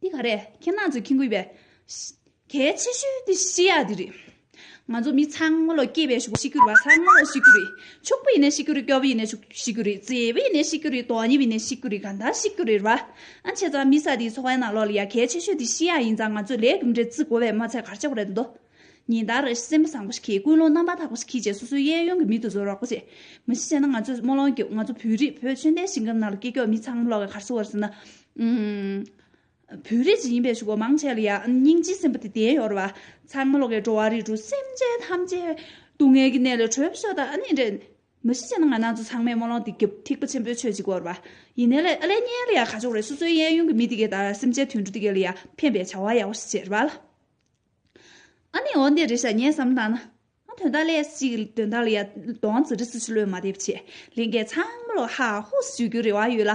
འདི་ག་རེད་ཁྱེད་རྣམས་ཚོས་ཁེངས་དགོས་པའི། གལ་ཆེ་ཤོས་དེ་ཤེས་ཡག་འདི་རེད། ང་ཚོ་མི་ཚང་མ་ལོ་སྐྱེས་པའི་ཞུགས་པ་ཤི་རྒྱུ་རེད་བ་ཚང་མ་ལོ་ཤི་རྒྱུ་རེད་ཕྱུག་པོ་ཡིན་ནས་ཤི་རྒྱུ་རེད་སྐྱོ་བོ་ཡིན་ནས་ཤི་རྒྱུ་རེད་བརྩེ་བོ་ཡིན་ནས་ཤི་རྒྱུ་རེད་དོ་སྙེམས་ཡིན་ནས་ཤི་རྒྱུ་རེད་གང་ལྟར་ཤི་རྒྱུ་རེད་བ། ཨ་ཁྱེད་ཚང་མི་ས་འདིའི་ཚོགས་པའི་ནང་ལོགས་ལ་ཡ་གལ་ཆེ་ཤོས་དེ་ཤི་ཡག་ཡིན་ཙང་ང་ཚོས་ལས་རྒྱུ་འབྲས་བརྩི་དགོས་པའི་མ་ཚད་གར་ཆགས་པ་རེད་དོ། ཉིན་ལྟར་སེམས་བཟང་པོ་ཞིག་གིས་ཀུན་སློང་རྣམ་པར་དག་པ་ཞིག་གིས་བྱས་སོ་སོའི་གཡས་གཡོན་གྱི་མི་དུ་ཟོར་རོག་པོ་བྱེད། མི་གཞི་བྱས་ན་ང་ཚོས་སྨོན་ལོང་བརྒྱབ་ང་ཚོ་བོད་རིགས་བོད་ཆོས་ལྡན་ཞིང་ཁམས་ནང་ལ་སྐྱེས་མཆོག་མི་ཚང་མ་ལོག་གི་གར་སོང་བར་ཟེར་ན། བོད་རིགས་ཅིག་ཡིན་པའི་ཆུ་བོ་མང་ཆེ་ལ་ཡང་སྙིང་རྗེའི་སེམས་པ་དེ་ལྡན་ཡོད་རེད་བ། ཚང་མ་ལོག་གི་འགྲོ་བ་རིགས་དྲུག་སེམས་ཅན་ཐམས་ཅད་སྡུག་བསྔལ་གྱི་གནས་ལས་གྲོལ་བར་ཤོག་དང་ཨ་ནི་འདྲེ། མི་གཞི་བྱས་ན་ང་ནང་ཚོ་ཚང་མས་སྨོན་ལོང་དེ་བརྒྱབ་ཐིག་པ་ཆེན་པོའི་ཆོས་ཅིག་གོ་རེད་བ། ཡིན་ནའི་ལེ་ལས་རྙེད་ལ་ཡང་ཁ་ཕྱོགས་རེད་སོ་སོའི་གཡས་གཡོན་གྱི་མི་དེ་གས་ད་སེམས་ཅན་དུད་འགྲོ་དེ་གས་ལ་ཡང་ཕན་པའི་བྱ་བ་ཡག་པོ་ཞིག་བྱས་རེད་བ། ཨ་ནི་འོ་འདི་རེད་བྱ་ཉན་བསམ་བཏང་ན། ཨ་དོན་དག་ལས་ཅིག་དོན་དག་ལ་ཡ་གདོང་ཙི་རི་ཙི་ཅི་ལོས་མ་བསྡད་ཕྱིར་ལིང་གའི་ཚང་མ་ལོ་ཧ་ཧུ་སུ་ཞུ་རྒྱུའི་རེ་བ་ཡོད་ལ།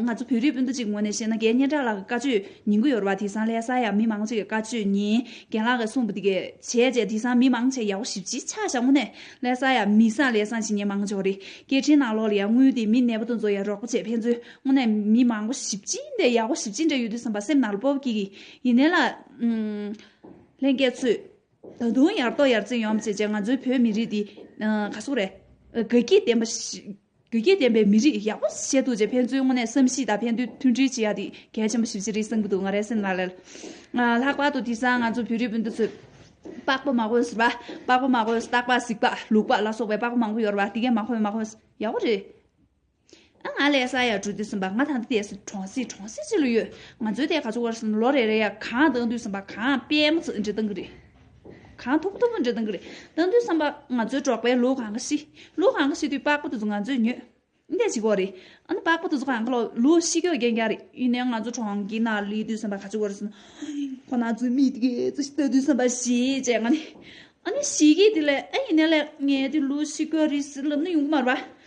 ང་ཚོ་བོད་རིགས་སྤུན་ཟླ་གཅིག་ངོས་ནས་བཤད་ན་རྒན་སྙན་གྲགས་ལགས་ཀྱི་བཀའ་ཆོས་ཉན་གི་ཡོད་རེ་བ་དེ་སང་ལས་ས་ཡ་མི་མང་ཅིག་གི་བཀའ་ཆོས་ཉན་རྒན་ལགས་ཀྱི་གསུངས་པ་དེ་གས་བྱས་རྗེས་དེ་སང་མི་མང་ཆེ་ཡག་པོ་ཞིབ་ཅིག་ཆ་བཞག་ངོ་ནས་ལས་ས་ཡ་མི་སང་ལས་སང་ཞིག་ཉན་མང་ཆོག་རེ་སྐད་འཕྲིན་ནང་ལོག་ལ་ཡ་དངུལ་དེ་མི་གནས་པ་དུ་འཛོ་ཡ་རོགས་པ་བྱས་ཕན་ཚུན་ངོ་ནས་མི་མང་པོ་ཞིབ་ཅིག་འདས་ཡག་པོ་ཞིབ་ཅིག་འདས་ཡོད་དུས་སམ་པ་སེམས་ནང་ལ་སྤོབས་ཀྱིས་ཡིན་ནའི་ལ། ལྷན་རྒྱས་ཚོས། ད་དུང་ཡར་ལྟོ་ཡར་འཛིན་ཡོང་བྱེད་ཅེས་ང་ཚོའི་བོད་མི་རིགས་འདི། ག་སོག་རེད། དགའ་སྐྱིད་ལྡན་པ། དགའ་སྐྱིད་ལྡན་པའི་མི་རིགས་ཡག་པོ་བཤད་འདུག་ཅེས་ཕན་ཚུན་དངོས་གནས་བསམ་ཤེས་དང་ཕན་བདེ་མཐུན་སྒྲིལ་བྱེད་ཡ་དེ་གལ་ཆེན་པོ་ཞིབ་ཅི་རིགས་གསུང་གི་འདུག་ང་རའི་སེམས་ལ་ལར། ལྷག་པར་དུ་དེ་སང་ང་ཚོ་བོད་རིགས་སྤུན་ཟླ་ཚོས། པགས་པ་མ་གོས་ཟ་བ། པགས་པ་མ་གོས་རྟག་པ་གཟིགས་པ་ལུག་པ་ལ་སོགས་པའི་པགས་པ་མང་པོ་ཡོད་རེད་བ་དེ་གས་མ་གོས་མ་གོས་ཡག་པོ་རེད། ཨ་ང་ལས་ས་ཡ་དྲུག་འདས་ཟིན་པ་ང་ད་ལྟ་འདས་སུ་གྲོང་གསེབ་གྲོང་གསེབ་ཅིག་ལ་ཡོད། ང་ཚོའི་དེ་ག་ཚོད་བར་སོང་ལོ་རེ་རེ་ཡ་གང་བཏང་དུས་བསམ་པ་གང་སྤེལ་མོ་ཚིག་འབྲི་སྟངས་ཀྱི་རེད། གང་ཐུབ་ཐུབ་འབྲི་སྟངས་ཀྱི་རེད་བཏང་དུས་བསམ་པ་ང་ཚོའི་གྲོགས་པའི་ལུག་གང་ག་ཤི། ལུག་གང་ག་ཤི་དུས་པགས་པ་དེ་ཚོ་ང་ཚོས་ཉོས། འདས་ཅིག་བོ་རེད། ཨ་ན་པགས་པ་དེ་ཚོ་གང་ག་ལོག་ལུག་ཤི་གྱོ་རྒྱན་རྒྱག་རེད་ཡིན་ནའི་ང་ཚོ་གྲོང་གི་ནང་ལུས་དུས་བསམ་པ་ག་ཚོད་བར་སོང། ཁོ་ན་ཚོའི་མི་དེ་ག་ཚོད་ཤི་བལྟ་དུས་བསམ་པ་ཞེ་ཅེ་ང་ནི། ཨ་ནི་ཤི་གི་དེ་ལས་ཨ་ཡིན་ནའི་ལས་ངའི་དེ་ལུག་ཤི་གྱོ་རེད་ཟེར་ལབ་ན་ཡོང་གི་མ་རེད་པ།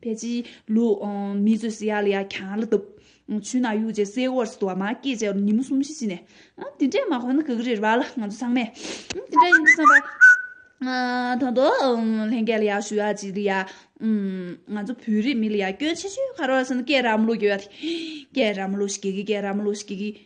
བལ་གྱིས་ལུ། མི་བཟོད་སྲི་ཡ་ལ་ཡ་གྱང་ལ་དུབ། ཆུ་ནག་ཡུག་ཅེས་སེ་འོར་སི་ཏུ་བ་མ་སྐྱེས་བྱ་བར་ཉིན་མོ་གསུམ་བཞི་བྱིན་ནས། དེ་འདྲའི་མ་ཁོ་ན་གི་གི་རེ་རེ་བ་ལ་ང་ཚོ་ཚང་མས། དེ་འདྲ་ཡིན་དུ་བསམ་པ། ད་དུང། ལྷན་སྐྱེས་ལ་ཡ་ཞུ་ཡ་གྱིས་ལ་ཡ། ང་ཚོ་བོད་རིགས་མི་ལ་ཡ་སྐྱོན་ཆེ་ཤོས་ག་རེ་བ་ཟེར་ན་སྐད་ར་མོ་ལུག་གི་བ་དེ། སྐད་ར་མོ་ལུག་ཤི་གི་གི་སྐད་ར་མོ་ལུག་ཤི་གི་གི།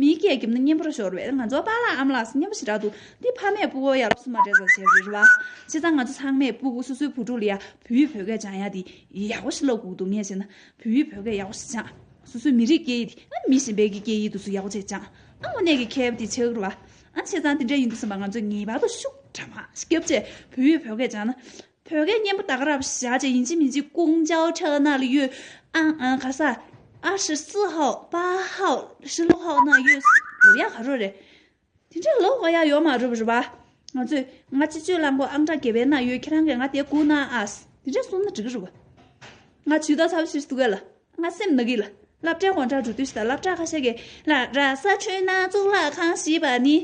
མིའི་སྐད་རྒྱབ་ན་གཉེན་པོར་ཤོར་བས་ང་ཚོ་པཱ་ལགས་ཨམ་ལགས་སུ་གཉེན་པོ་ཞིག་གྲགས་འདུག་འདི་ཕ་མས་སྤུ་བོ་ཡག་ལབ་སུ་མ་རེད་ཟ་བྱས་རེད་བ། བྱས་ཙང་ང་ཚོ་ཚང་མས་སྤུ་བོ་སོ་སོའི་བུ་ཕྲུག་ལ་ཡ་བུ་ཡི་བོད་སྐད་སྦྱང་ཡ་དེ་ཡག་པོ་ཞིག་ལབ་དགོས་འདུག་ངས་བྱས་ན་བུ་ཡི་བོད་སྐད་ཡག་པོ་ཞིག་སྦྱང། སོ་སོའི་མི་རིགས་སྐད་ཡིག་དེ་མི་གཞན་པའི་གི་སྐད་ཡིག་ཏུ་སུ་ཡག་པོ་བྱས་སྦྱང་ཨ་མོ་ནས་གི་ཁལ་བུ་དེ་ཆགས་རུ་བ། བྱས་ཙང་དེ་འདྲ་ཡིན་འདུག་བསམ་པ་ང་ཚོས་ངེས་པར་དུ་ཤུགས་དྲག་མ་སྐྱབས་རྗེས་བུ་ཡི་བོད་སྐད་སྦྱང་ན། བོད་སྐད་སྙན་པོ་དག་རབ་བཞག་ཅིག་ཡིན་གཅིག་མིན་གཅིག་ཀུང་ཅའོ་ཁྲའོ་ན་ལི་ཡོད་ཨ་ཨ་ག་ས་ཨ་ཧྲི་སི་ཧའོ་པ་ཧའོ་ཧྲི་ལོ་ཧའོ་ན་ཡོད་ལོ་ཡ་ག་རོ་རེད་དེ་འདྲ་ལོ་ཧོ་ཡ་ཡོ་མ་རུབ་རུབ་ཨ་ང་ཚོས་ང་སྤྱི་སྤྱོད་གླང་པོ་ཨང་གྲངས་གེ་བེ་ན་ཡོད་ཁྱེད་རང་གིས་ང་དེ་གུ་ན་ཨཱས་དེ་འདྲ་གསུང་ན་འགྲིག་གི་རུབ་ཨ་ང་ཇུས་ཏོག་ཚབ་ཤིས་ཏུ་གི་ལ་ང་སེམས་ནག་གི་ལ་ལབ་དྲ་གོང་དྲ་འབྲུ་དུས་ཤི་ད་ལབ་དྲ་ཁ་ཤས་གི་ལ་ར་ས་ཆུ་ན་གཙུག་ལག་ཁང་ཞེས་པ་ནི་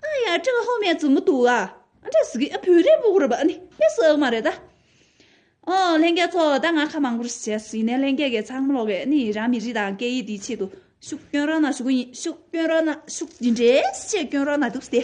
ཨ་ཡ་ཀྲི་ཧོ་མའི་བཙུན་མོ་འདུག་ཨ་ཨ་ཟི་གིས་བོད་རིགས་བོད་རིགས་ནི་དཔེ་སྲིད་འོག་མ་རེད་ད། ཨོ་ལྷན་རྒྱལ་ཚོ་ད་ང་ཁ་མང་པོར་བྱས་སུ་ཡིན་ནའི་ལྷན་རྒྱལ་གྱི་ཚང་མ་ལོག་གི་ནི་རང་མི་རིགས་དང་སྐད་ཡིག་དེའི་ཆེད་དུ་ཤུགས་སྐྱོན་རང་ན་ཞུགས་གི་ཡིན་ཤུགས་སྐྱོན་རང་ན་ཞུགས་ཇི་འདྲའི་ཤུགས་སྐྱོན་རང་ན་འདུག་སྟེ།